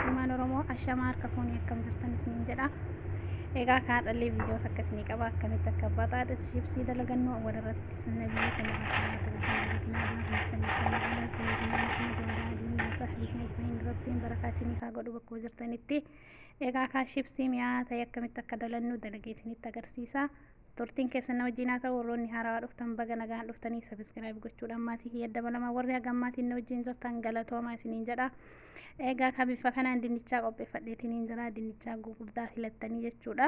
Ilmaan Oromoo ashamaa harka fuunii akkam jirtan isiniin jedha. Egaa kaadhallee viidiyoo takka isinii qaba akkamitti akka baxaaxa shibsii dalagannu awwal irratti sunna biyya kana keessatti rabbiin barakaa isiniif haa godhu bakkuma jirtanitti. Egaa kaa shibsii mi'aa ta'e akkamitti akka dalannu dalagee isinitti agarsiisa. Turtiin keessan na wajjin haa ta'u warroonni haarawaa dhuftan baga nagaan dhuftanii sabiskiraayib gochuudhaan maatii kiyya dabalamaa warri hagammaatiin na wajjin jirtan galatoomaa isiniin jedha. Egaa ka bifa kanaan dinnichaa qopheeffadheetiin hin jira. Dinnichaa gurguddaa filattanii jechuudha.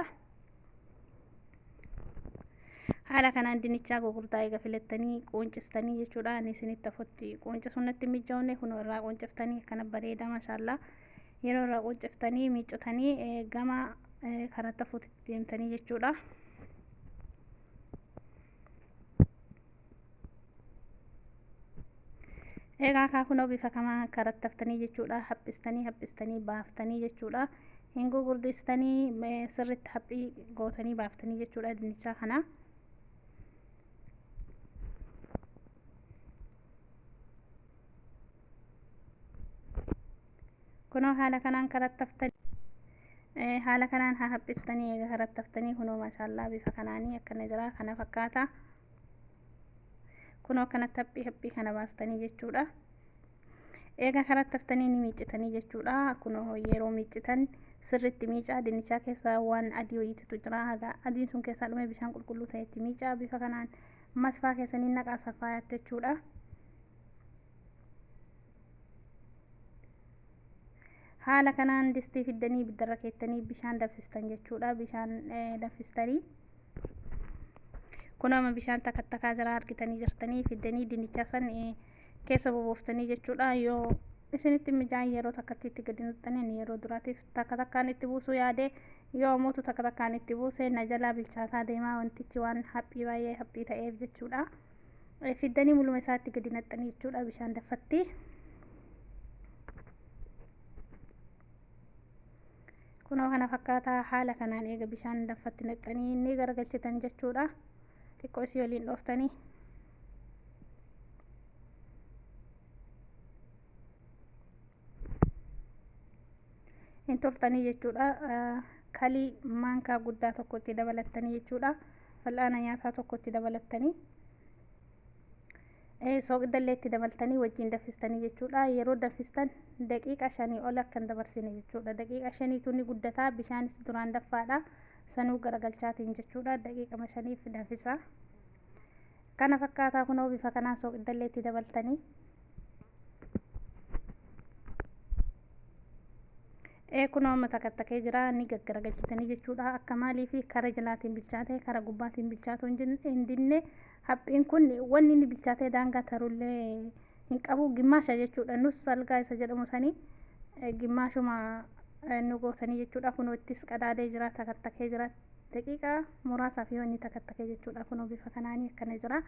Haala kanaan dinnichaa gurguddaa eega filattanii quuncistanii jechuudha. Ani isinitti afotti quuncisuun natti hin mijoone kunoo irraa quunciftanii akkana bareeda mashaallaa. Yeroo irraa quunciftanii miiccitanii gama karaa tafuutti deemtanii jechuudha. Egaa kaa kunoo bifa kamaa karatti haftanii jechuudha. Haphistanii haphistanii baaftanii jechuudha. Hin gugurdistanii eh, sirriitti haphii gootanii baaftanii jechuudha dinnichaa kana. kunoo haala kanaan karattaftanii Eh, haala kanaan haa haphistanii eega karattaftanii kunoo maashaallaa bifa kanaanii akkana jira kana fakkaata kunoo kanatti haphii haphii kana baastanii jechuudha eega karattaftanii ni miiccitanii jechuudha kunoo yeroo miiccitan sirriitti miicaa dinnichaa keessa waan adii wayiititu jira haga adiin sun keessaa dhume bishaan qulqulluu ta'etti miicaa bifa kanaan masfaa keessanii naqaa safaayaatti jechuudha haala kanaan distii fiddanii ibiddarra keettanii bishaan danfistan jechuudha bishaan danfistanii kun amma bishaan takka takkaa jala argitanii jirtanii fiddanii dinnichaa san keessa bobooftanii jechuudha yoo isinitti mijaan yeroo takkatti itti gadi nuxxaniin yeroo duraatiif takka takkaan itti buusuu yaade yoo mootu takka takkaan itti buuse na jalaa bilchaataa deemaa wantichi waan haphii baay'ee haphii ta'eef jechuudha. fiddanii muluma isaatti gadi naqxanii jechuudha bishaan daffatti. Kunoo kana fakkaataa haala kanaan eega bishaan daffatti naqxanii ni garagalchitan jechuudha. Xiqqoo isii waliin dhooftanii. Hin turtanii jechuudha. Kalii maankaa guddaa tokkotti dabalattanii jechuudha. fal'aana nyaataa tokko itti dabalattanii sooqidallee itti dabaltanii wajjin danfistanii jechuudha yeroo danfistan daqiiqa shanii ol akka hin dabarsine jechuudha daqiiqa shaniitu ni guddataa bishaanis duraan danfaadha sanuu garagalchaatiin jechuudha daqiiqama shaniif danfisaa kana fakkaataa kunoo bifa kanaan sooqidallee itti dabaltanii Ee kunoo amma takattakee jira ni gaggaragalchitanii jechuudha akka maaliifi kara jalaatiin bilchaatee kara gubbaatiin bilchaatu hin jin- hin dinne haphiin kun wanni inni bilchaatee daangaa tarullee hin qabu gimmaasha jechuudha nus salgaa isa jedhamu sanii eh, gimmaashuma eh, nu gootanii jechuudha kunoo ittis qadaadee jira takattakee jira daqiiqaa muraasaaf yoo inni takattakee jechuudha kunoo bifa kanaanii akkana jira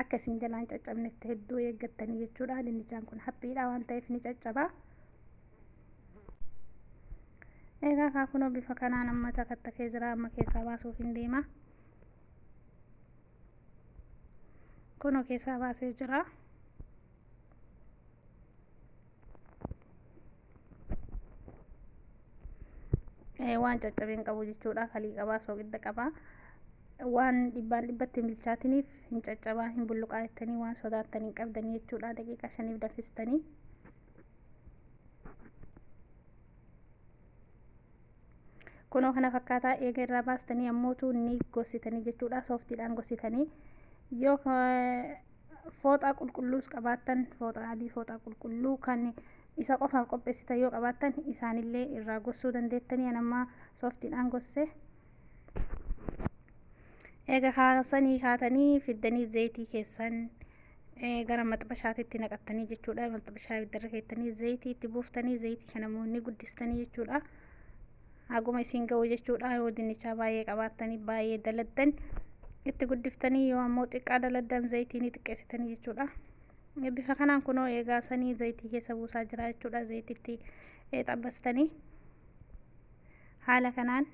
akka isin jalaan caccabnetti hedduu eeggattanii jechuudha dinnichaan kun haphiidha waan ta'eef ni caccaba. egaa kaa kunoo bifa kanaan amma takattakee jira amma keessaa baasuuf hin deema kunoo keessaa baasee jira waan caccabeen qabu jechuudha kalii qabaa soogidda qabaa waan dhibbaan dhibbatti hin bilchaatiniif hin caccabaa hin bulluqaa jettanii waan sodaattan hin qabdanii jechuudha daqiiqa shaniif danfistanii kunoo kana fakkaataa eega irraa baastanii ammootu ni gossitanii jechuudha sooftiidhaan gossitanii yoo fooxaa qulqulluus qabaattan fooxaa adii fooxaa qulqulluu kan isa qofaan qopheessitan yoo qabaattan isaanillee irraa gossuu dandeettanii anammaa sooftiidhaan gosse eega kaasanii kaatanii fiddanii zayitii keessan gara maxxabashaatitti naqattanii jechuudha maxxabashaa ibiddarra keessanii zayitii itti buuftanii zayitii kana immoo ni guddistanii jechuudha haguma isin ga'u jechuudha yoo dinnichaa baay'ee qabaattanii baay'ee daladdan itti guddiftanii yoo ammoo xiqqaa daladdan zayitii ni xiqqeessitanii jechuudha bifa kanaan kunoo eegaa sanii zayitii keessa buusaa jira jechuudha zayititti xabbastanii haala kanaan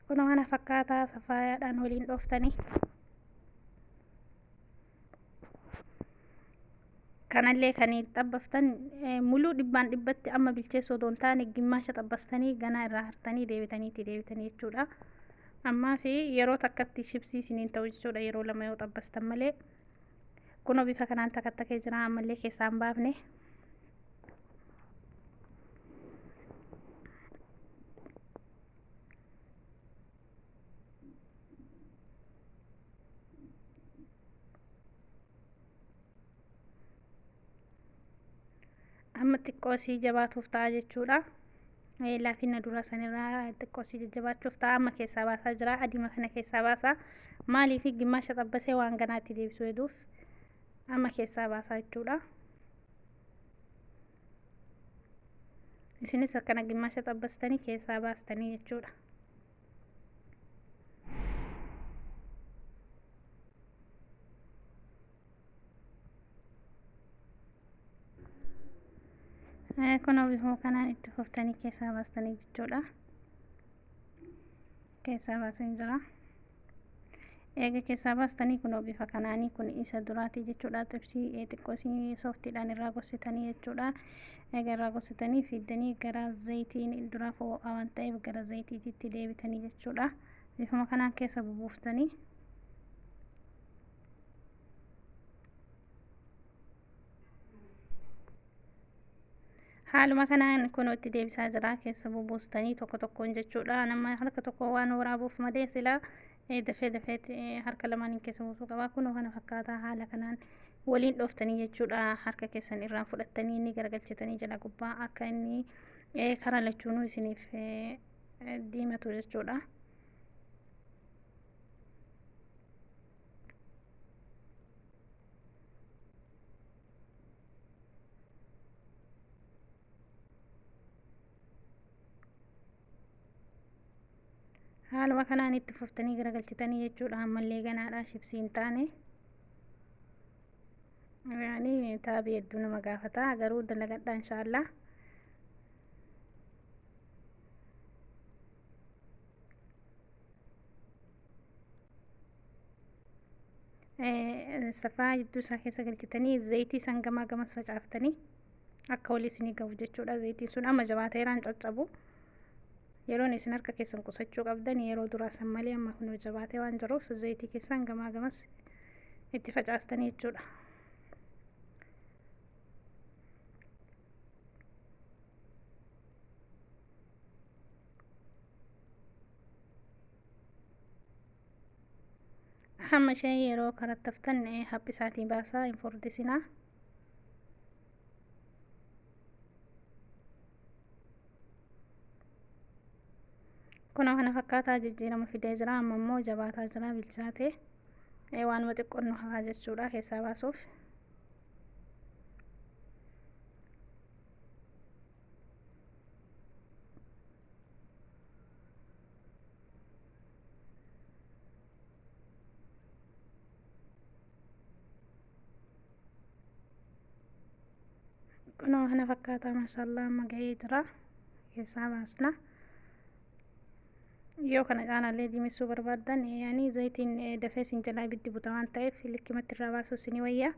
kunoo kana fakkaataa safaayaadhaan waliin dhooftanii kanallee kan xabbaftan muluu dhibbaan dhibbatti amma bilcheessuu odoo hin taane gimmaasha xabbastanii ganaa irraa hartanii deebitanii itti deebitanii jechuudha. Ammaa fi yeroo takkatti shibsii isiniin ta'u jechuudha yeroo lama yoo xabbastan malee. Kunoo bifa kanaan takka takkee jira ammallee keessaa hin baafne. amma xiqqoo sii jabaatuuf ta'a jechuudha. Laafina dura sanirraa xiqqoo sii jajjabaachuuf ta'a amma keessaa baasaa jira adima kana keessaa baasaa maaliif gimmaasha xabbasee waan ganaatti deebisuu heduuf amma keessaa baasaa jechuudha. Isinis akkana gimmaasha xabbastanii keessaa baastanii jechuudha. kun bifuma kanaan itti fuftanii keessaa baastanii jechuudha keessaa baasin jira Eega keessaa baastanii kunoo bifa kanaanii kun isa duraatii jechuudha. Xibsii xiqqoo isin sooftiidhaan irraa gorsitanii jechuudha. Eega irraa gorsitanii fiiddanii gara zayitiin duraa foo'aa waan ta'eef gara zayitiititti deebitanii jechuudha. Bifuma kanaan keessa bubuuftanii Haaluma kanaan kunoo itti deebisaa jira keessa bubuustanii tokko tokkoon jechuudha. Nama harka tokko waan waraabuuf malee silaa dafee dafeetti harka lamaaniin keessa buusuu qaba. Kunoo kana fakkaata haala kanaan waliin dhooftanii jechuudha. Harka keessan irraan fudhattanii inni garagalchitanii jala gubbaa akka inni karaa lachuunuu isiniif diimatu jechuudha. haaluma kanaan itti fuftanii garagalchitanii jechuudha ammallee ganaadha shibsii hin taane yaani taabii hedduu nama gaafata garuu dalagadha inshaallah safaa jidduu isaa keessa galchitanii zayitii san gamaa gamas facaaftanii akka walii isinii gahu jechuudha zayitiin sun amma jabaateeraan caccabu yeroon isin harka keessan qusachuu qabdan yeroo duraa san malee amma kun jabaatee waan jiruuf zayitii keessan gamaa gamas itti facaastanii jechuudha. hamma ishee yeroo karattaftan haphisaatii baasaa hin furdisinaa kunoo kana fakkaataa jijjiirama fidee jira amma immoo jabaataa jira bilchaatee waanuma xiqqoon nu hafaa jechuudha keessaa baasuuf kunoo kana fakkaataa maashaallaa amma ga'ee jira keessaa baasna yoo kana caalaallee diimessuu barbaaddan ani zayitiin dafee sin jalaa ibiddi buta waan ta'eef likkimatti irraa baasuu isinii wayyaa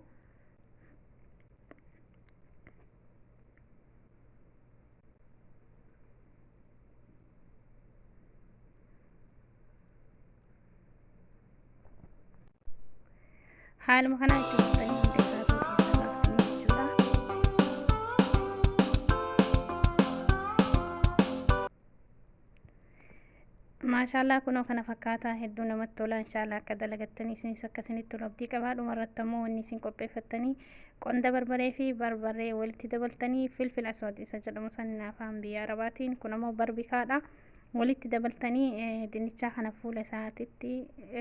haaluma kanaa itti fufanii hunda isaa ta'uu keessa baaftanii jechuudha. Maashaallah kunoo kana fakkaataa hedduu namatti tola inshaallah akka dalagattanii isinis akka isinitti tolu abdii qabaa dhuma irratti ammoo wanni isin qopheeffattanii qonda barbaree fi barbaree walitti dabaltanii filfil aswad isa jedhamu san afaan biyya arabaatiin kun ammoo barbikaadha walitti dabaltanii dinnichaa kana fuula isaatitti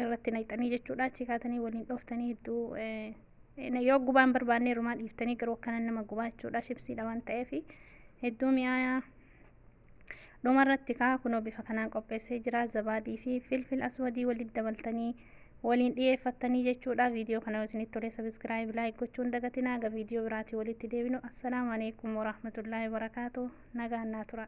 irratti naqxanii jechuudha achi kaatanii waliin dhooftanii hedduu yoo gubaan barbaannee rumaa dhiiftanii garuu akkanan nama gubaa jechuudha shibsiidha waan ta'eef hedduu mi'aayaa Dhuma irratti kaa kunoo bifa kanaan qopheessee jira. Zabaadii fi filfil aswadii walitti dabaltanii waliin dhiyeeffattanii jechuudha. Viidiyoo kana yoo isinitti tole sabiskiraayib laayik gochuu hin dagatinaa. Aga viidiyoo biraatii walitti deebinu. Assalaamu alaikum warahmatullaahi wabarakaatu. Nagaan naa tura.